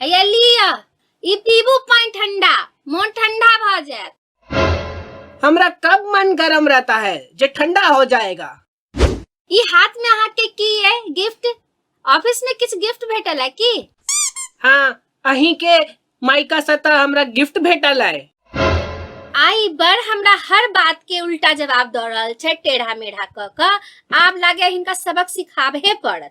हैया लिअ ई पीबू पानि ठंडा मोन ठंडा भऽ जायत हमरा कब मन गरम रहता है जे ठंडा हो जाएगा ई हाथ में अहाँ के की है गिफ्ट ऑफिस में किछु गिफ्ट भेटल है की हाँ अहीं के माइका सतह हमरा गिफ्ट भेटल है आई बर हमरा हर बात के उल्टा जवाब दऽ रहल छै टेढ़ा मेढ़ा कऽ कऽ आब लागे हिनका सबक सिखाबहे पड़त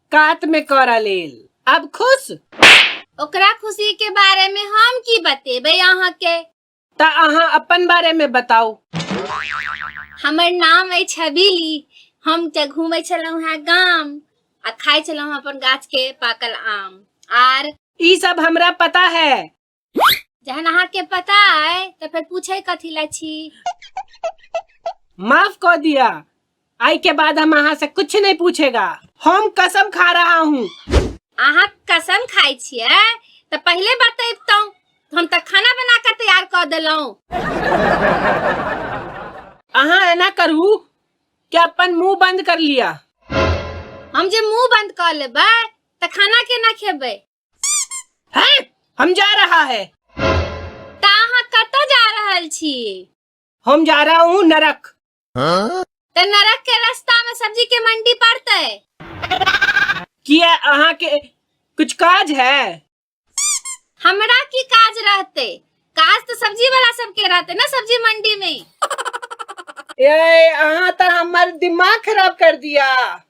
कात में करा लेल अब खुश ओकरा खुशी के बारे में हम की बतेबे अहाँ के ता अहाँ अपन बारे में बताऊ हमर नाम है छबीली हम ते घूमे छलहुँ हैं गाम आ खाए छलहुँ अपन गाछ के पाकल आम आर ई सब हमरा पता है जहन अहाँके पता अइ तऽ फेर पूछे कथी लए छी माफ कऽ दिया आइ के बाद हम अहाँ से कुछ नहीं पूछेगा हम कसम खा रहा हूँ अहाँ कसम खाइ छियै तऽ पहिले बतैबतहुँ हम तऽ खाना बना कऽ तैयार कऽ देलहुँ अहाँ एना करू कि अपन मुंह बंद कर लिया हम जे मुंह बंद कऽ लेबै तऽ खाना केना खेबै हैं हम जा रहा है ता अहाँ कतऽ जा रहल छी हम जा रहा हूँ नरक तऽ नरक के रास्ता में सब्जी के मंडी पड़ते किया अहाँ के कुछ काज है हमरा की काज रहते काज तो सब्जी वाला सबके रहते ना सब्जी मंडी में ये अहाँ तो हमार दिमाग खराब कर दिया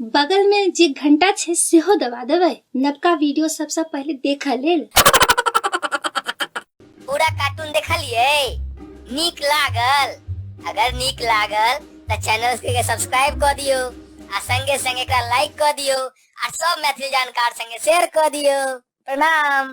बगल मे जे घंटा छै सेहो दबा देबै नवका वीडियो सबसँ पहिले देखऽ लेल पूरा कार्टून देखलिए नीक लागल अगर नीक लागल तऽ चैनल के सब्सक्राइब कऽ दियो आ संगे संगे एकरा लाइक कऽ दियो आ सब मैथिली जानकार संगे शेयर कऽ दियो प्रणाम